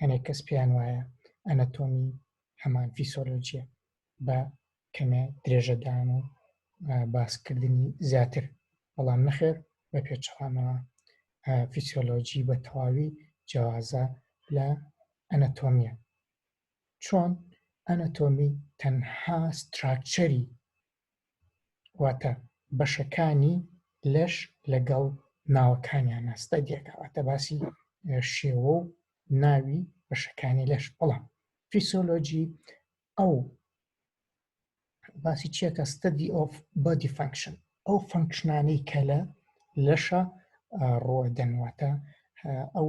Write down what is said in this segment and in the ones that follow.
هەنێک کەس پێیان وایە ئەنەتۆمی هەمان فیسۆلۆجیە بە کەمێ درێژەدان و باسکردنی زیاتر بەڵام نەخێر بە پێچەوانەوە فیسۆلۆجی بە تەواوی جیاوازە لە ئەنەتۆمیە چۆن ئەنەتۆمی تەنها ستراکچەری واتە بەشەکانی لەش لەگەڵ ناوەکانیانە ستەدیەکە واتە باسی شێوە و ناوی بەشەکانی لەش بەڵام فیسۆلۆجی ئەو باسی چیەکە ستدی ئۆف بادی فنکشن ئەو فنکشنانەی کە لە لەشە ڕۆدەنواتە ئەو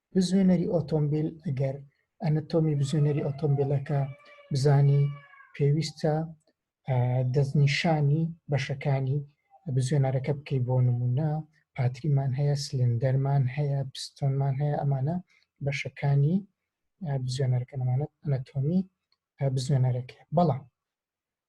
بزوێنەری ئۆتۆمبیل ئەگەر ئەنەتۆمی بزوێنەری ئۆتۆمبیلەکە بزانی پێویستە دەستنیشانی بەشەکانی بزوێنەرەکە بکەی بۆ نمونە پاتریمان هەیە سلندەرمان هەیە پستۆنمان هەیە ئەمانە بەشەکانی بزوێنەرەکەمانە ئەنەتۆمی بزوێنەرەکە بەڵام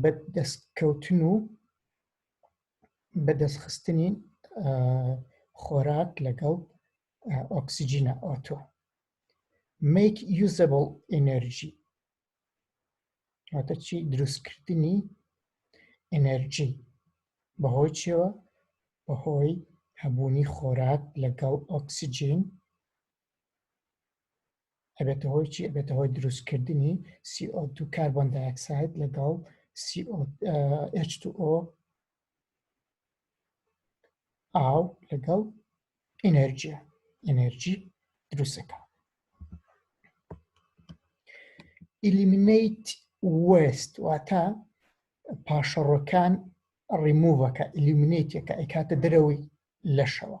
بە دەستکەوتن و بەدەستخستنی خۆراک لەگەڵ ئۆکسسیجینە ئۆتۆ میک یوزبل ئەنەرژی واتەچی دروستکردنی ئەنەرژی بەهۆی چێوە بەهۆی هەبوونی خۆراک لەگەڵ ئۆکسسیجین ئەبێتە هۆی چی ئەبێتە هۆی دروستکردنی CO2 کاربۆن دایکساید لەگەڵ H2O ئاو لەگەڵ ئینەرجیە ئینەرجی دروستەکە ئیلیمینیت وست واتە پاشەڕۆکان ڕیموڤەکە ئیلیمینیتەکە ئەیکاتە دەرەوەی لەشەوە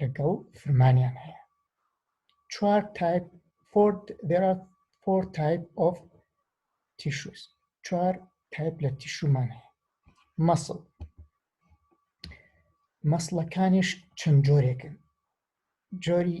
لەگەڵ فرمانیان هەیە چوار تایپ فۆرد دێرا فۆر تایپ ئۆف تیشوس چوار تایپ لە تیشومان هەیە مەسڵ مەسڵەکانیش چەند جۆرێکن جۆری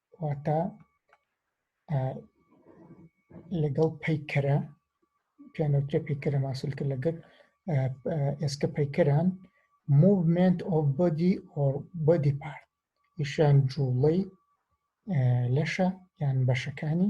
کەواتە لەگەڵ پەیکەرە پیانەوترە پەیکەرە ماسولکە لەگەر ئێسکە پەیکەران موومنت ئۆف بۆدی ئۆر بۆدی پارت یشان جوڵەی لەشە یان بەشەکانی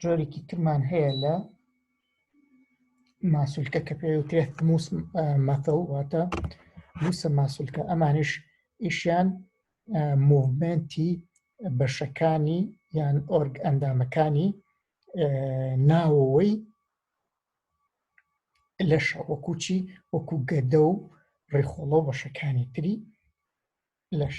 جۆرێکی ترمان هەیە لە ماسولکە کە پێوترێ موس مەتەڵ واتە موسە ماسولکە ئەمانش ئیشیان موڤمنتی بەشەکانی یان ئۆرگ ئەندامەکانی ناوەوەی لەش وەکوچی وەکو گەدە و ڕێخۆڵە بەشەکانی تری لەش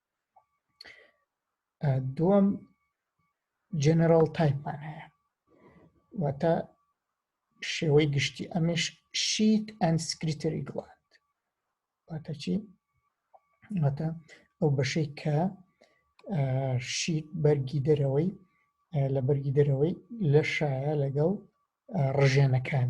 دووەم جەنەرال تایپمان هەیە واتە شێوەی گشتی ئەمش شیت ئەند سکریتری گڵاند واتە چی واتە ئەو بەشەی کە شیت بەرگی دەرەوەی لە بەرگی دەرەوەی لە شایە لەگەڵ ڕژێنەکان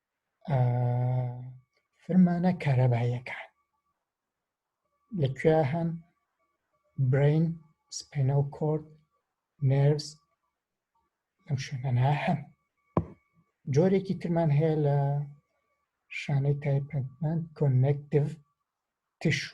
فرمانە کارەباییەکان لە کوێ هەن برین سپینەو کۆرد نێرس ئەم شوێنانە هەن جۆرێکی ترمان هەیە لە شانەی تایپەتمەند کۆنێکتیڤ تشو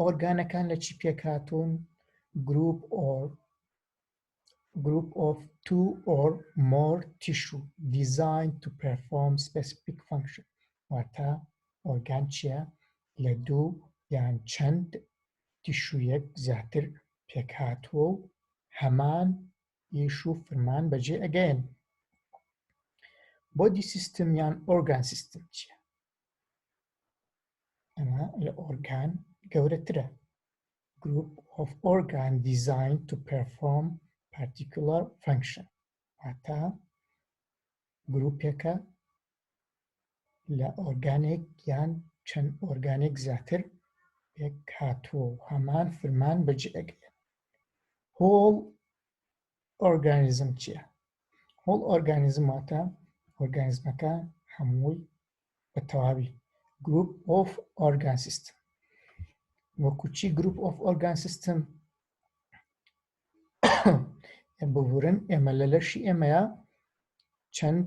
ئۆرگانەکان لە چی پێکهاتوون گروپ ئۆر group of two or more tissue designed to perform specific function واتە ئۆرگان چیە لە دوو یان چەند تیشویەک زیاتر پێکهاتووە و هەمان ئیش و فرمان بەجێ ئەگەن بۆدی سیستم یان ئۆرگان سیستم چیە ئەمە لە ئۆرگان گەورەترە group of organ designed to perform particular function واتا گروپێکە لە ئۆرگانێک یان چەند ئۆرگانێک زیاتر پێک هاتووە و هەمان فرمان بەجێگرن هۆڵ ئۆرگانیزم چییە؟ هۆڵ ئۆرگانیزم واتە ئۆرگانیزمەکە هەمووی بە تەواوی گروپ ئۆف ئۆرگان سیستم وەکو چی گروپ ئۆف ئۆرگان سیستم ببورن ئێمە لە لەشی ئێمەیە چەند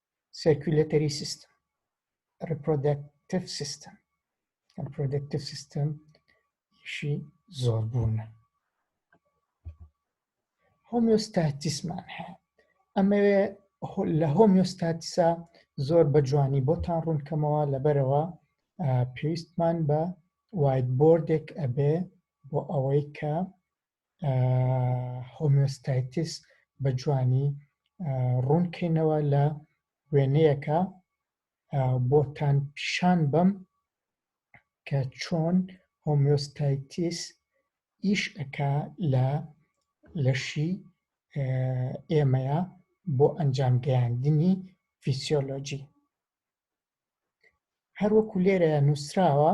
سێرکولەتەری سیستم ڕپرۆدەکتیف سیستم ڕپرۆدەکتیف سیستم شی زۆر بوونە هۆمیۆستاتیسمان هەیە ئەمەوێ لە هۆمیۆستاتیسا زۆر بە جوانی بۆتان ڕوونکەمەوە لەبەرەوە پێویستمان بە وایت بردێک ئەبێ بۆ ئەوەی کە هۆمیۆستایتیس بە جوانی ڕوونکەینەوە لە وێنەیەکە بۆتان پیشان بەم کە چۆن هۆمیۆستایتیس ئیش ئەکا لە لەشی ئێمەیە بۆ ئەنجام گەیاندنی فیسیۆلۆجی هەروەکو لێرە نووسراوە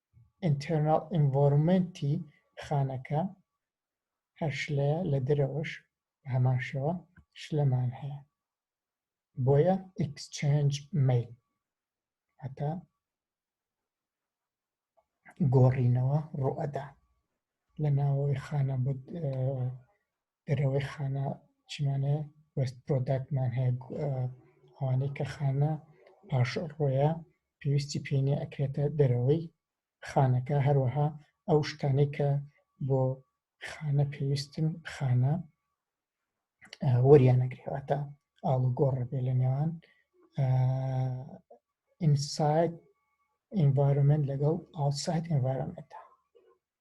ئینتێرناڵ ئینڤۆرمێنتی خانەکە هەر شلەیە لە دەرەوەش بە هەمان شێوە شلەمان هەیە بۆیە ئیکسچێنج مەیل هەتا گۆڕینەوە ڕوئەدا لە ناوەوەی خانە دەرەوەی خانە چیمانەیە وست پرۆداکتمان هەیە ئەوانەی کە خانە پاش ڕۆیە پێویستی پێینێ ئەکرێتە دەرەوەی خانەکە هەروەها ئەو شتانەی کە بۆ خانە پێویستن خانە وەریانەگرێواتە ئاڵوگۆڕە بێ لە نێوان ئینساید ئینڤارمنت لەگەڵ ئاوساید ئینڤارمنتە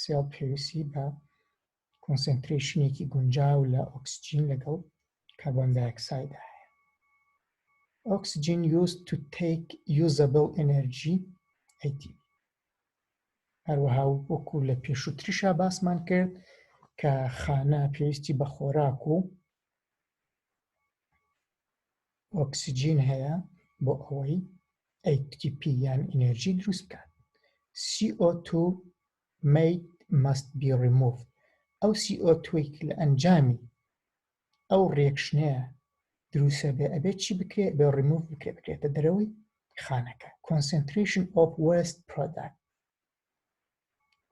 سێڵ پێویستی بە کۆنسنترێشنێکی گونجاو لە ئۆکسجین لەگەڵ کاربۆن دایکسایدا هەیە ئۆکسجین یوز تو تیک یوزەبل ئەنەرژی ئەیتی هەروەها وەکو لە پێشووتریشا باسمان کرد کە خانە پێویستی بە خۆراک و ئۆکسجین هەیە بۆ ئەوەی ATP یان ئینێرجی دروست بکات CO2 made must be removed ئەو CO2 لە ئەنجامی ئەو ڕێکشنەیە دروسە بێ ئەبێت چی بکرێت بە ڕیموف بکرێت بکرێتە دەرەوەی خانەکە concentration of waste product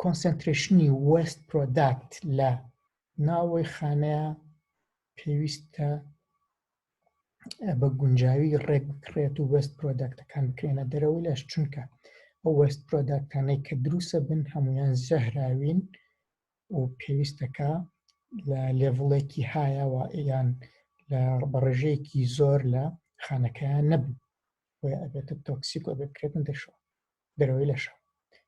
کۆنسەنترێشنی وەست پرۆداکت لە ناوەوەی خانەیە پێویستە بە گونجاوی ڕێک بکرێت و وەست پرۆداکتەکان بکرێنە دەرەوەی لەش چونکە ئەو وەست پرۆداکتانەی کە دروسە بن هەمویان زەهراوین و پێویستەکە لە لێڤڵێکی هایەوە یان لە بەڕێژەیەکی زۆر لە خانەکەیان نەبن بۆیە ئەبێتە تۆکسیک و بکرێتن دەشەوە دەرەوەی لەشە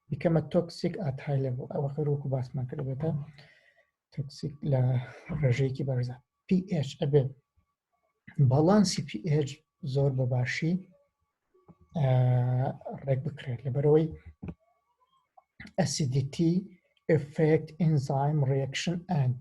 بیکەمە تۆکسیک ئاتای لە بۆ ئەوە خەر وەکو باسمان کردێتە تۆکسیک لە ڕێژەیەکی بەرزە PH ئەبێ باڵانسی PH زۆر بە باشی ڕێک بکرێت لەبەرەوەی ئەسیدیتی ئفکت ئینزایم ڕێکشن ئەند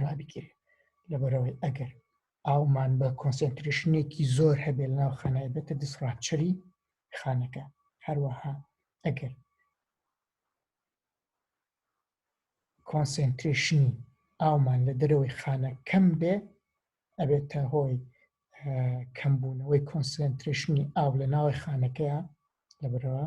ڕابگیرێ لەبەرەوەی ئەگەر ئاومان بە کۆنسنتریشنێکی زۆر هەبێ لە ناو خانای بێتە دیسڕاپچەری خانەکە هەروەها ئەگەر کۆنسنتریشنی ئاومان لە دەرەوەی خانە کەم بێ ئەبێتە هۆی کەمبوونەوەی کۆنسنتریشنی ئاو لە ناوی خانەکەیە لەبرەوە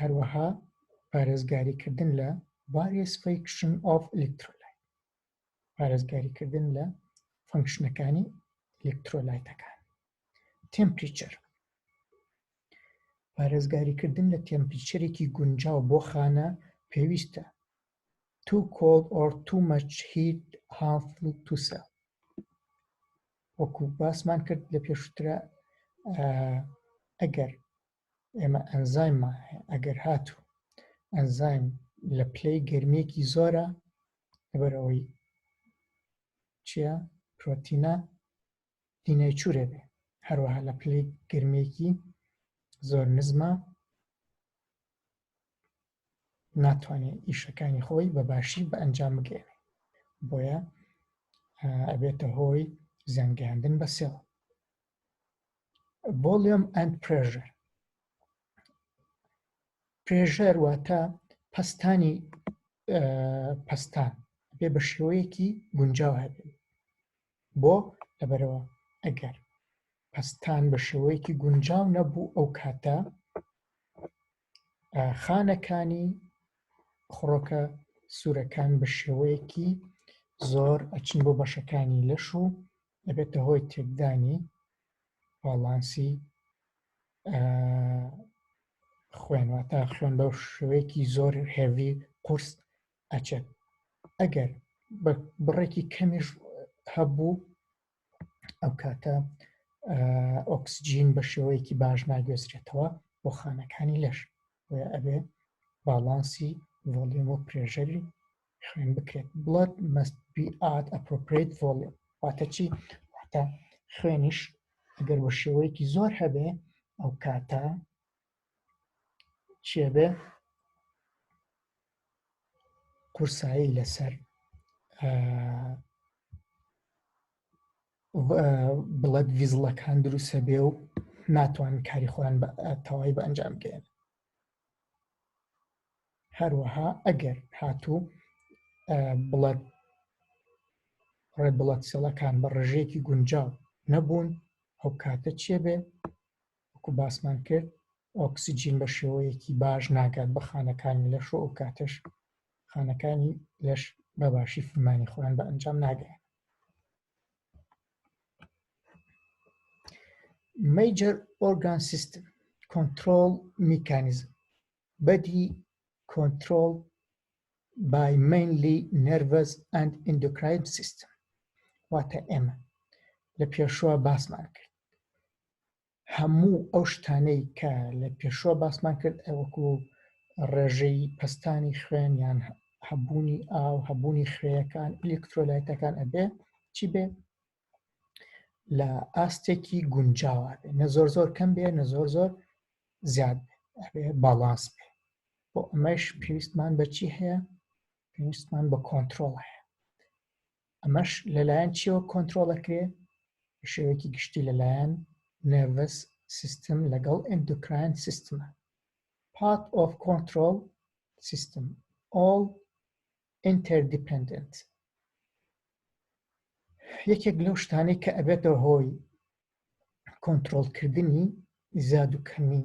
هەروەها پارێزگاریکردن لە various function of electrolyte پارێزگاریکردن لە فەنکشنەکانی ئەلکترۆلایتەکان تمپریچەر پارێزگاریکردن لە تمپریچەرێکی گونجاو بۆ خانە پێویستە too cold or too much heat harmful to cell وەکو باسمان کرد لە پێشترە ئەگەر ئێمە ئەنزایممان هەیە ئەگەر هاتوو ئەنزایم لە پلەی گەرمیەکی زۆرە لەبەرەوەی چیە پرۆتینە دینای چورێ بێ هەروەها لە پلەی گرمێکی زۆر نزمە ناتوانێت ئیشەکانی خۆی بە باشی بە ئەنجام بگەێنێ بۆیە ئەبێتە هۆی زیانگەیاندن بە سێڵ ڤۆلیۆم ئەند پرێژەر پرێژەر واتە پەستانی پەستان بێ بە شێوەیەکی گونجاو هەبێت بۆ لەبەرەوە ئەگەر پەستان بە شێوەیەکی گونجاو نەبوو ئەو کاتە خانەکانی خڕۆکە سوورەکان بە شێوەیەکی زۆر ئەچن بۆ بەشەکانی لەش و دەبێتە هۆی تێکدانی باڵانسی خوێنواتە خوێن بەو شوەیەکی زۆر هێوی قورس ئەچێت ئەگەر بە بڕێکی کەمیش هەبوو ئەو کاتە ئۆکسجین بە شێوەیەکی باش ناگوێزرێتەوە بۆ خانەکانی لەش ئەبێ باڵانسی ڤۆلیۆم و پرێژەری خوێن بکرێت blood must be at appropriate volume واتە چی واتە خوێنیش ئەگەر بە شێوەیەکی زۆر هەبێ ئەو کاتە چێ بێ قورسایی لەسەر بڵەت ڤیزڵەکان دروستە بێ و ناتوان کاری خۆیان تەواوی بە ئەنجام بگەێن هەروەها ئەگەر هاتوو بڵەت ڕێ بڵەت سێڵەکان بە ڕژێکی گونجاو نەبوون ئەو کاتە چێ بێ وەکو باسمان کرد ئۆکسسیجین بە شێوەیەکی باش ناگات بە خانەکانی لەش و ئەو کاتەش خانەکانی لەش بەباشی فرمانی خۆیان بە ئەنجام ناگەیان مەیجەر ئۆرگان سیستم کۆنترۆڵ میکانیزم بەدی کۆنترۆڵ بای مینلی نەرڤەس ئەند ئیندۆکراین سیستم واتە ئێمە لە پێشوە باسمان کرد هەموو ئەو شتانەی کە لە پێشوە باسمان کرد ئەوەکو ڕێژەی پستانی خوێن یان هەبوونی ئاو هەبوونی خوێەکان ئەلکترۆلایتەکان ئەبێ چی بێ لە ئاستێکی گونجاوە بێ نە زۆر زۆر کەم بێ نە زۆر زۆر زیاد بێ باڵانس بێ بۆ ئەمەش پێویستمان بەچی هەیە پێویستمان بە کۆنتترۆڵ هەیە ئەمەش لەلایەن چیەوە کۆنترۆڵەکرێ بە شێوەیەکی گشتی لەلایەن نێڤس سیستم لەگەڵ ئەندوکراین سیستمە پات ئۆف کۆنترۆل سیستم ئۆڵ ئینتەردیپندنت یەکێک لەو شتانەی کە ئەبێتەوە هۆی کۆنترۆلکردنی زیاد و کەمی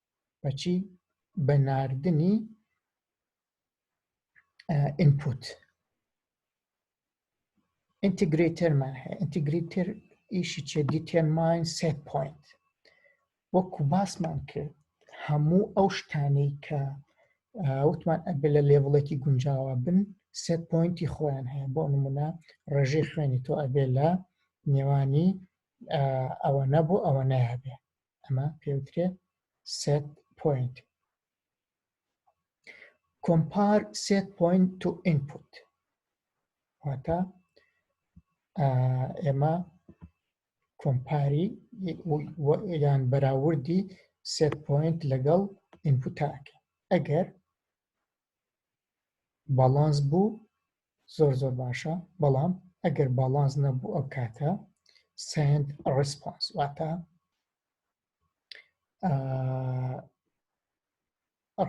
بەچی بە ناردنی ئینپوت ئینتیگرێتەرمان هەیە ئینتیگریتر ئیشی چێ دیتێماین سێ پوینت وەکو باسمان کرد هەموو ئەو شتانەی کە وتمان ئەبێ لە لێڤڵێکی گونجاوە بن سێ پوینتی خۆیان هەیە بۆ نمونە ڕێژەی خوێنی تۆ ئەبێ لە نێوانی ئەوە نەبوو ئەوە نایبێ ئەمە پێوترێت سێت پوینت کۆمپار سێت پوینت تو ئینپوت واتە ئێمە کۆمپاری یان بەراوردی سێت پوینت لەگەڵ ئینپوتاکە ئەگەر باڵانس بوو زۆر زۆر باشە بەڵام ئەگەر باڵانس نەبوو ئەو کاتە سند ڕسپۆنس واتە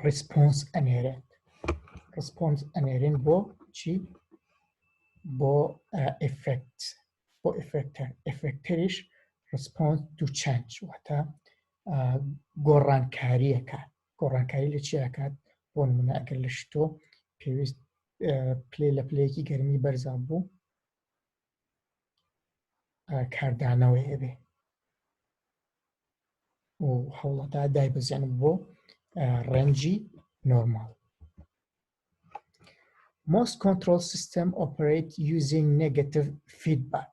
ڕسپۆنس ئەنێرێت ڕسپۆنس ئەنێرین بۆ چی بۆ ئفکت بۆ ئفکتەر ئفکتەریش ڕسپۆنس دوو چەند واتە گۆڕانکاریەکە گۆڕانکاری لە چی ئەکات بۆ نمونە ئەگەر لە شتۆ پێویست پلێ لە پلەیەکی گەرمی بەرزا بوو کاردانەوەی هەبێ و هەوڵەدا دایبەزیێن بۆ ڕەنجی نۆرمال Most control system operate using negative feedback.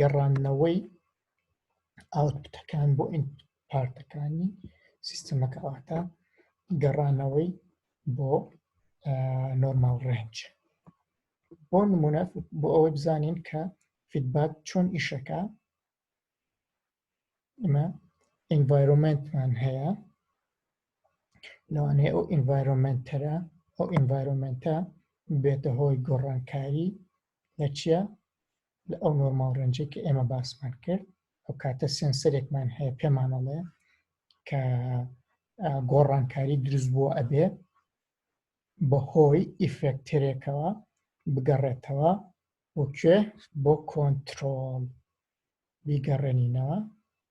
گەڕاندنەوەی ئاوتپوتەکان بۆ پارتەکانی سیستەمەکە واتە گەڕانەوەی بۆ نۆرمال ڕێنج بۆ نمونە بۆ ئەوەی بزانین کە فیدباک چۆن ئیشەکە ئمە ئینڤایرۆمنتمان هەیە لەوانەیە ئەو ئینڤایرۆمنتەرە ئەو ئینڤایرۆمنتە بێتە هۆی گۆڕانکاری لە چیا لە ئەو نۆرماڵ ڕێنجێک کە ئێمە باسمان کرد ئەو کاتە سێنسەرێکمان هەیە پێمانەڵێ کە گۆڕانکاری دروست بووە ئەبێ بەهۆی ئیفێکتەرێکەوە بگەڕێتەوە وکوێ بۆ کۆنتترۆڵ بیگەڕێنینەوە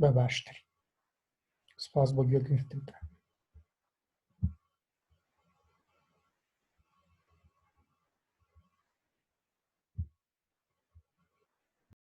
بە باشتر سپاس بۆ گوێگرتنتە